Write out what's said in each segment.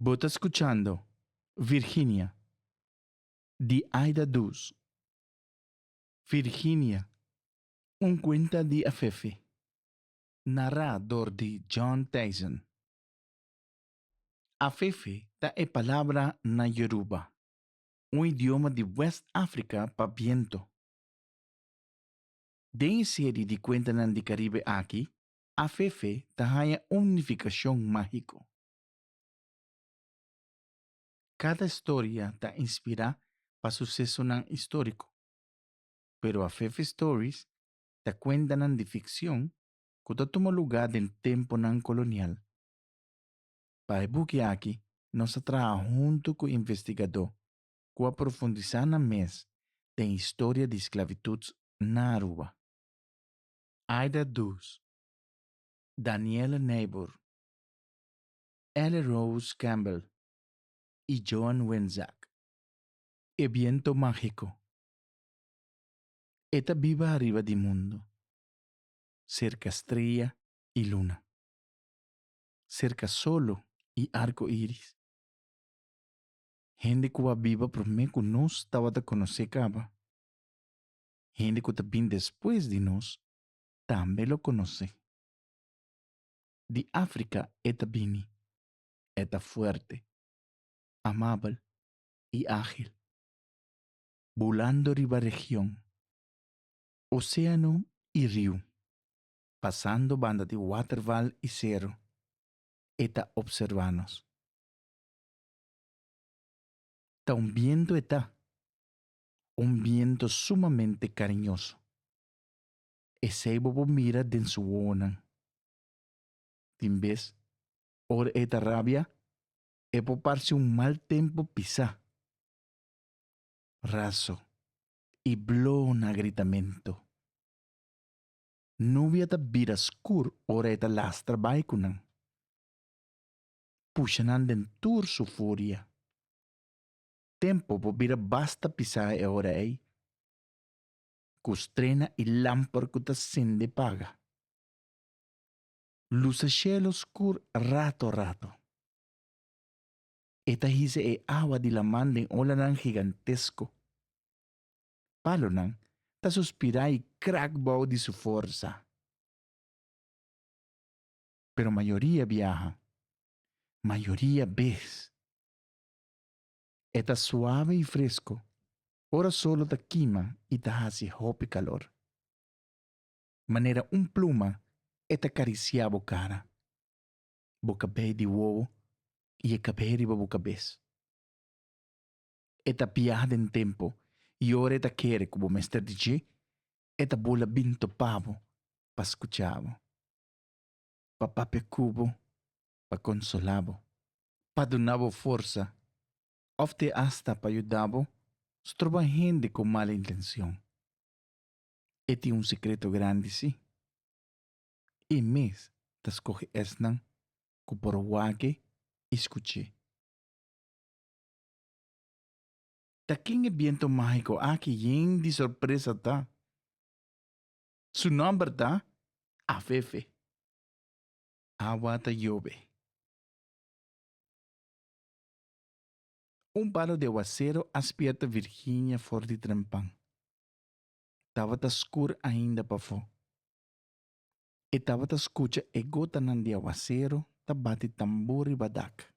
Bo ta scuchando Virginia di Aida Duz. Virginia, un cuenta di Afefe, nará door di John Thijssen. Afefe ta e palabra na Yoruba, un idioma di West Africa pa biento. Den e serie di cuentanan di Caribe aki, AFF ta haña un nificacion magico. Cada storia ta inspira pa sucesonan istorico, pero AFF Stories ta cuentanan di ficcion cu ta tuma lugar den temponan colonial. Pa e buki aki nos a traha hunto cu investigador cu a profundisa nan mes den historia di sclavitud na Aruba. Aida Does, Danielle Nijboer, Ellie Rose Campbell y Joan Winzak. E biento magico. E ta biba ariba di mundo, cerca strella y luna, cerca solo y arco iris. Hende cu a biba prome cu nos tabata conoce caba, hende ku ta bin despues di nos tambe lo konosé. Di Afrika e ta bini, e ta fuerte, amabel i ágil, bulando riba region, oséano i riu, pasando banda di waterval i sero, e ta opservá nos. Ta un bientu e ta, un biento sumamente kariñoso. Esei bo por mira den su wowonan. Tin bes, ora e ta rabia, e por parse un mal tempu pisá, raso i bló na gritamentu. Nubia ta bira skur ora e ta lastra bai ku nan, pusha nan den tur su furia. Tempo por bira basta pisá e ora ei ku strena i lamper ku ta sende paga. Lusa shelu skur rato rato. E ta hisa e awa di laman den olanan gigantesko. Palonan ta suspirá i krak bou di su forsa. Pero mayoria biaha, mayoria bes E ta suave i fresco, ora solo ta kima i ta haci hopi calor. Manera un pluma e ta cariciá bo cara, bo cabei di wowo i e cabei riba bo cabes. E ta piaha den tempo i ora e ta kere cu bo mester di dje, e ta bula bin topa bo pa scuchá bo. Pa papia cu bo pa konsolá bo, pa duna bo forsa òf te asta pa yuda bo stroba hende ku mal intenshon. E tin un sekreto grandi sí, E mes ta skohe esnan ku por wak-e i skuch'é. Ta ken e bientu mágiko aki yen di sorpresa ta? Su nòmber ta Afefe. awa ta yobe. Un palo di awasero a spierta Virginia for di trempan. Tabata skur ainda pafó. E tabata skucha e gotanan di awasero ta bati tambó riba dak.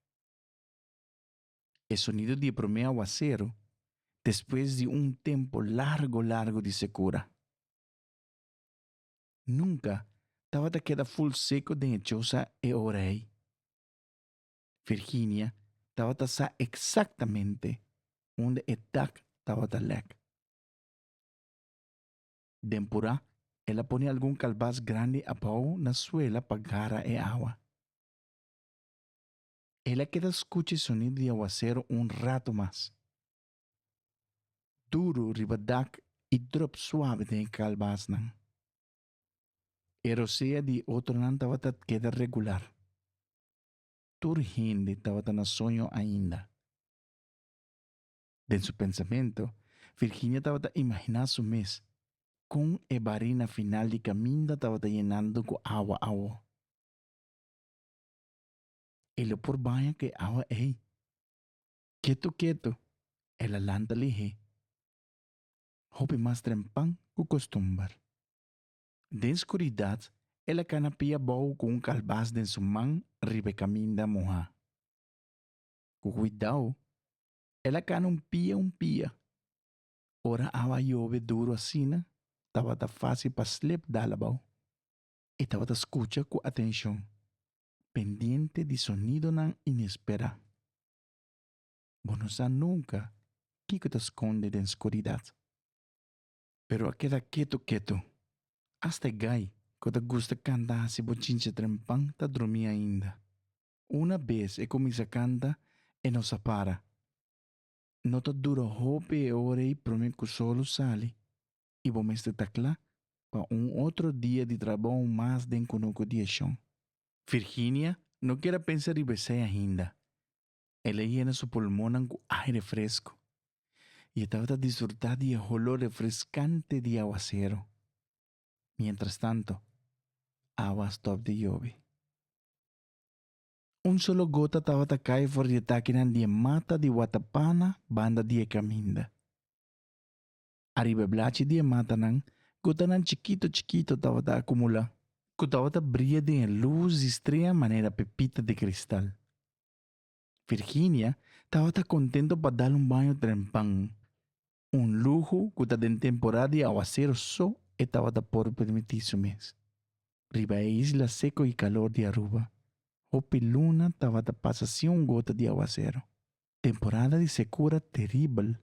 E sonido di e promé awasero despues di un tempu largu largu di sekura. nunka tabata keda ful seko den e chosa e ora ei. Virginia tabata sa eksaktamente unda e dak tabata lek. Den purá el a pone algun kalbas grandi abou na suela pa gara e awa. El a keda skucha e sonido di awasero un rato mas, duru riba dak i drop suave den e kalbasnan. E rosea di e otronan tabata keda regular. Tur hende tabata na soño ainda. Den su pensamentu, Virginia tabata imaginá su mes kon e barina final di kaminda tabata yenandu ku awa awor. E lo por baña ku e awa ei. Ketu ketu, el a lanta lihé hopi mas trempan ku kostumber. Den skuridat, el a kana pia bou ku un kalbas den su man riba e kaminda mohá. Ku kuidou, el a kana un pia un pia. Ora awa a yove duru asina, tabata fásil pa Slip dal abou. E tabata skucha ku atenshon, pendiente di sonidonan inesperá. Bo no sa nunka kiko ta skonde den skuridat. Pero a keda ketu ketu. Asta e gai ku ta gusta kanta hasi bo chinche trempan ta drumí ainda. Una bes e kuminsá kanta e no sa para. No ta dura hopi e ora ei promé ku solo sali i bo mester ta kla pa un otro dia di trabou mas den Kunuku di Eshon. Virginia no kier a pensa riba esei ainda. El a yena su pulmonnan ku aire fresku i e tabata disfrutá di e holor refreskante di awaseru. Mientrastantu, awa a stòp di yobi. Un solo gota tabata kai for di e takinan di e mata di watapana banda di e kaminda. Ariba e blachi di e matanan, gotanan chikito chikito tabata akumulá, ku tabata bria den e lus di strea manera pepita di kristal. Virginia tabata kontento pa dal un baño trempan, un luhu ku ta den temporada di awasero so e tabata por permití su mes. Riba e isla seko i kalor di Aruba, hopi luna tabata pasa sin un gota di awasero. Temporada di sekura teribel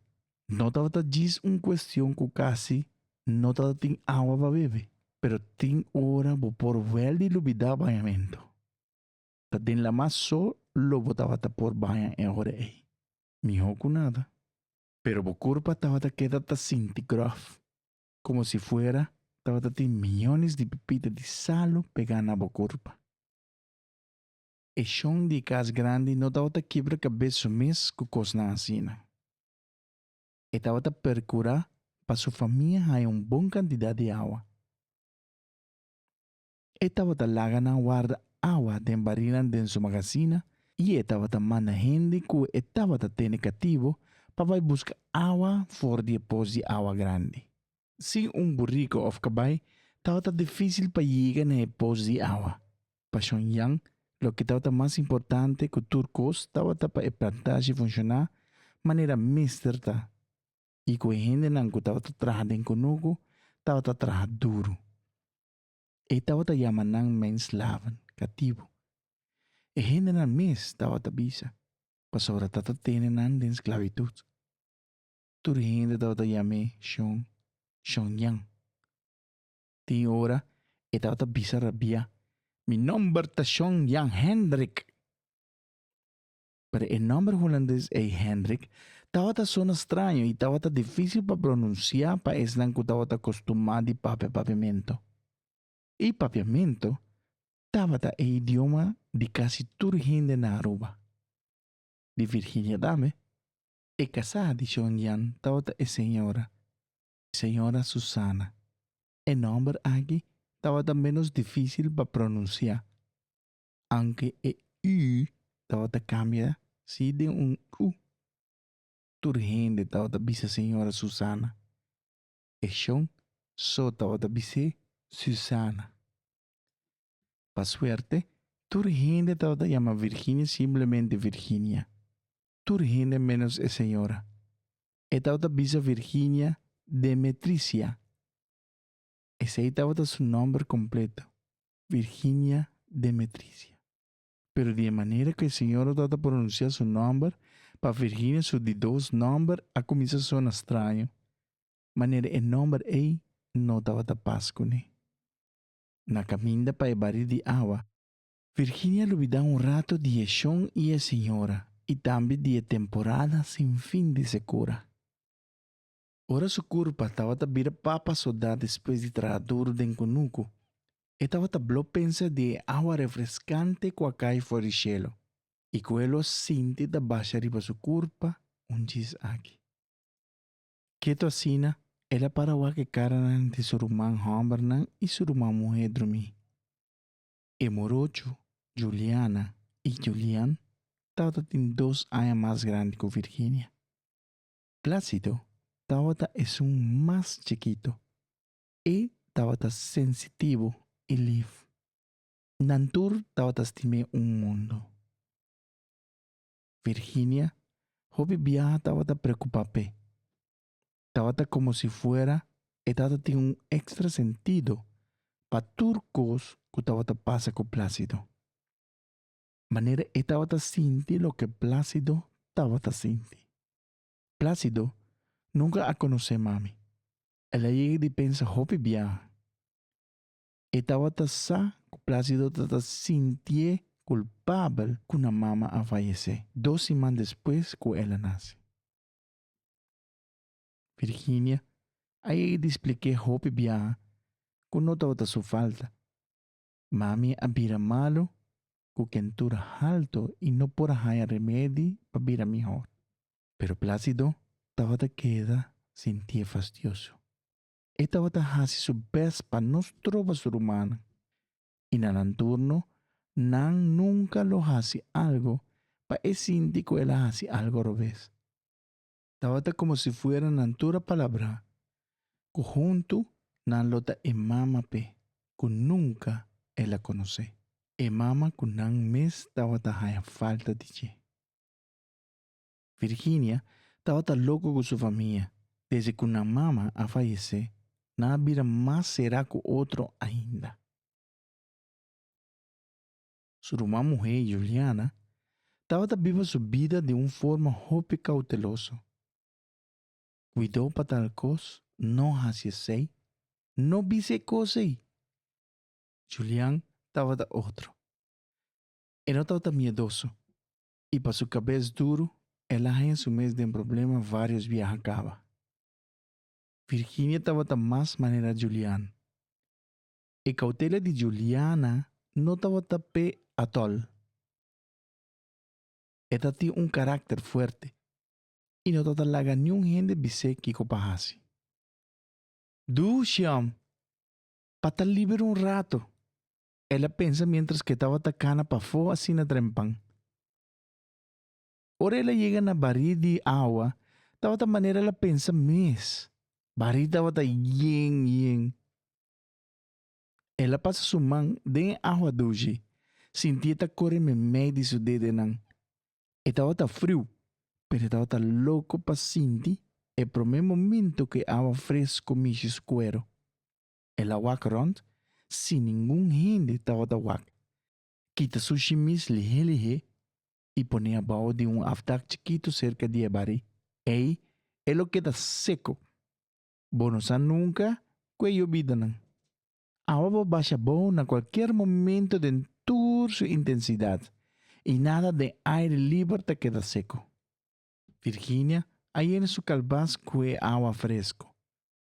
no tabata djis un kuestion ku kasi no tabata tin awa pa bebe, pero tin ora bo por wèl di lubidá bañamentu. Ta den lamá so lo bo tabata por baña e ora ei. Mihó ku nada. Pero bo kurpa tabata keda ta sinti gròf, komo si fuera tabata tin miñones di pipita di salu pegá na bo kurpa. E shon di e kas grandi no tabata kibra kabes su mes ku kosnan asina. E tabata perkurá pa su famia haña un bon kantidat di awa. E tabata laga nan warda awa den barilnan den su magasina i e tabata manda hende ku e tabata tene katibu pa bai buska awa for di e pos di awa grandi. Sin un burico of cabai tabata dificil pa yiga na e poos di awa. Pa Shon Yan, loke tabata mas importante cu tur cos tabata pa e plantashi funciona manera mester ta y cu e hendenan cu tabata traha den cunucu tabata traha duru. E tabata yama nan men slaven, cativo. E hendenan mes tabata bisa, pasobra ta ta tene nan den sclavitud. tur hende tabata yam'é Shon, Shonyan. Tin ora e tabata bisa rabiá, Mi nòmber ta Shon Jan Hendrik! Pero e nòmber hulandes ei Hendrik tabata sona straño i tabata difísil pa pronunsiá pa esnan ku tabata kostumá di papia papiamentu. I papiamentu tabata e idioma di kasi tur hende na Aruba, di Virginia tambe. E casá di Chongyang tabata e señora, Señora Susana. E nomber aki tabata menos dificil pa pronuncia, aunke e ü tabata cambia si den un u. Tur hende tabata bisa Señora Susana. E shon so tabata bis'é Susana. Pa suerte, tur hende tabata yama Virginia simplemente Virginia. tur hende ménos e señora. E tabata bisa Virginia Demetricia. Esei tabata su nòmber kompleto, Virginia Demetricia. Pero di e manera ku e señora tabata pronunsiá su nòmber, pa Virginia su di dos nòmber a kuminsá sona straño, manera e nòmber ei no tabata pas kuné. Na kaminda pa e bari di awa, Virginia lo bida un rato di e shon i e señora i tambe di e temporada sin fin di Secura. Ora su curpa tabata bira papa soda despues di traha duru den cunucu, e tabata blo pensa di e awa refrescante cu a cay for di shelo i cu e lo sinti ta basha riba su curpa un djis aki. Ketu asina, el a para wak e caranan di su ruman hombernan i su ruman muhe drumi. E morocho, Juliana i Julian, tabata tin dos aña mas grandi ku Virginia. Plácido tabata esun mas chikito. E tabata sensitivo i lif. Nan tur tabata stim'é un mundu. Virginia, hopi biaha tabata preokupá p'e. tabata komo si fuera e tata tin un ekstra sentido pa tur kos ku tabata pasa ku Plásido. Manera e tabata sinti loke Plásido tabata sinti. Plásido nunka a konosé mami. El a yega di pensa hopi biaha. E tabata sa ku Plásido ta ta sintié kulpabel ku nan mama a fayesé dos siman despues ku el a nase. Virginia a yega di splik'é hopi biaha ku no tabata su falta. Mami a bira malu ku kentura haltu i no por a haña remedi pa bira mihor. Pero Plácido tabata keda sintié fastioso. E tabata hasi su bèst pa no stroba su rumannan. i na nan turno nan nunka lo hasi algo pa e sinti ku el a hasi algo robes. Tabata komo si fuera nan tur a palabrá ku huntu nan lo ta e mama p'e ku nunka el a konosé, e mama ku nan mes tabata haña falta di dje. Virginia tabata loko ku su famia. Desde ku nan mama a fayesé, nan a bira mas será ku otro ainda. Su ruman muhé, Juliana, tabata biba su bida di un forma hopi kouteloso. Kuidó pa tal kos, no hasi esei, no bisa e kos ei. Julian tabata otro. E no tabata miedoso. i pa su kabes duru el a haña su mes den problema varios biaha kaba. Virginia tabata mas manera Julian. E kautela di Juliana no tabata p'e atol. E ta tin un karakter fuerte i no ta ta laga niun hende bis'é kiko pa hasi. Do Xiom pa ta liber un rato El a pensa mientras cu e tabata cana pafó asina trempan. Ora el a llega na barí di agua, tabata manera el a pensa mes. Barí tabata yen yen. El a pasa su man den e agua dushi, sinti e ta core memey di su dedenan. E tabata friu, pero e tabata loco pa sinti e prome momento cu e agua fresco mishi su cuero. El a wak rònt sin ningun hende tabata wak. Kita su shimis lihé-lihé i pon'é abou di un afdak chikitu serka di e barí. Ei e lo keda seko. Bo no sa nunka ku e yobida nan. Awa bo basha abou na kualkier momento den tur su intensidat i nada den aire liber ta keda seko. Virginia a yena su kalbas ku e awa fresko.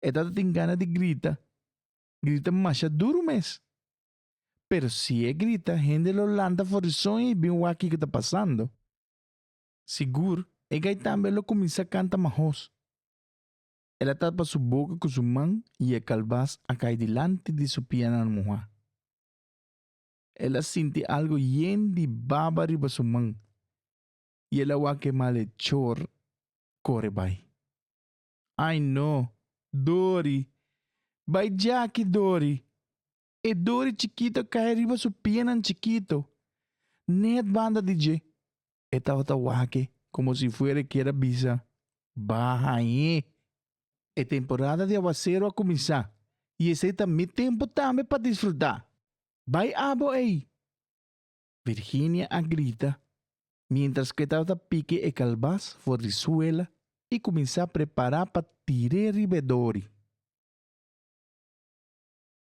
E tata tin gana di grita, grita masha duru mes. Pero si e grita, hende lo lanta for di soño i bin wak kiko ta pasando. Sigur, e gai tambe a lo kuminsá kanta mahos. El a tapa su boka ku su man i e kalbas a kai dilanti di su pianan muhá. El a sinti algu yen di baba riba su man i el a wak e male chor kore bai. Ai no, Dori! Bai djaki, Dori! E Dori chikito kai riba su pianan chikito. Nèt banda di dje e tabata wak-e komo si fuera e kier a bisa, Baha ahí! E temporada di awasero a kuminsá i esei ta mi tempu tambe pa disfrutá. Bai abo ei! Virginia a grita miéntras ku e tabata pike e kalbas for di suela i kuminsá prepará pa tir'é riba e dori.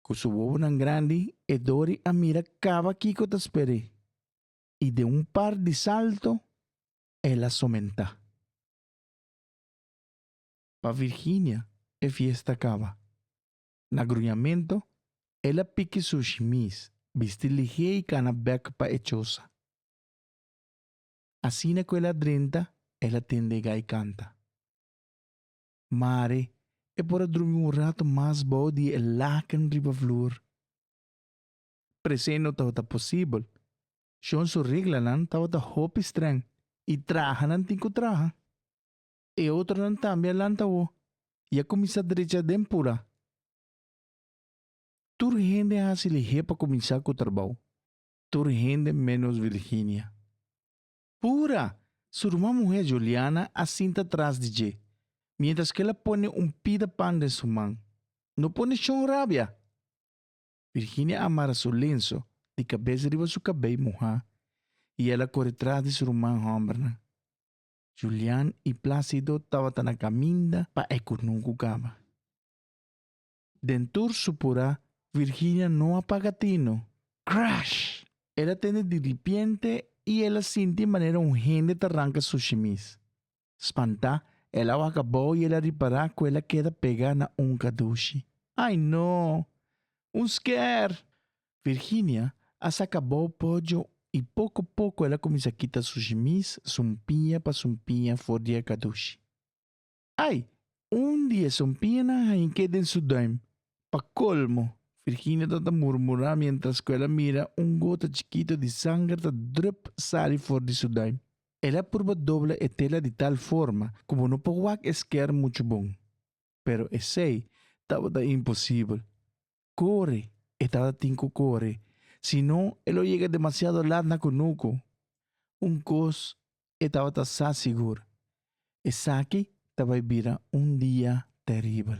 Ku su wowonan grandi e dori a mira kaba kiko ta sper'é i den un par di salto el a somentá. Pa Virginia e fiesta kaba. Na gruñamentu, el a piki su shimis, bisti lihé i kana bèk pa e chosa. Asina ku el a drenta, el a tende gai kanta. Mare, e por a drumi un ratu mas bou di e laken riba flur. Presé no tabata posibel. Shon su reglanan tabata hopi strèng i traha nan tin ku traha. E otronan tambe a lanta wou i a kuminsá drecha den pura. Tur hende hasi lihé pa kuminsá ku trabou, tur hende ménos Virginia. Pura! Su ruman muhé Juliana a sinta tras di dje, miéntras ku el a pone un pida pan den su man. No pone shon rabia! Virginia a mara su lenso di kabes riba su kabei muhá i el a kore tras di su ruman hòmbernan. Julian i Plácido tabata na kaminda pa e kunun ku kaba. Den tur su purá, Virginia no a paga tino. Crash! El a tende di ripiente i el a sinti manera un hende ta ranka su shimis. Spantá, el a wak abou i el a ripará ku el a keda pegá na un kadushi. Ai no! Un skèr! Virginia a saca bou pollo y poco poco el a cuminsa kita su shimis sumpiña pa sumpiña for di e cadushi. Ay! Un di e sumpiñanan hañiqué den su duim. Pa colmo, Virginia ta ta murmura mientras cu el a mira un gota chikito di sanger ta drup sali for di su duim. El a purba dobla e tela di tal forma cu bo no por wak e sker mucho bon. Pero esey tabata imposible. Kore, e tata tin ku kore, sino e lo yega demasiado lat na kunuku. Un kos e tabata sa sigur, esaki ta bai bira un dia teribel.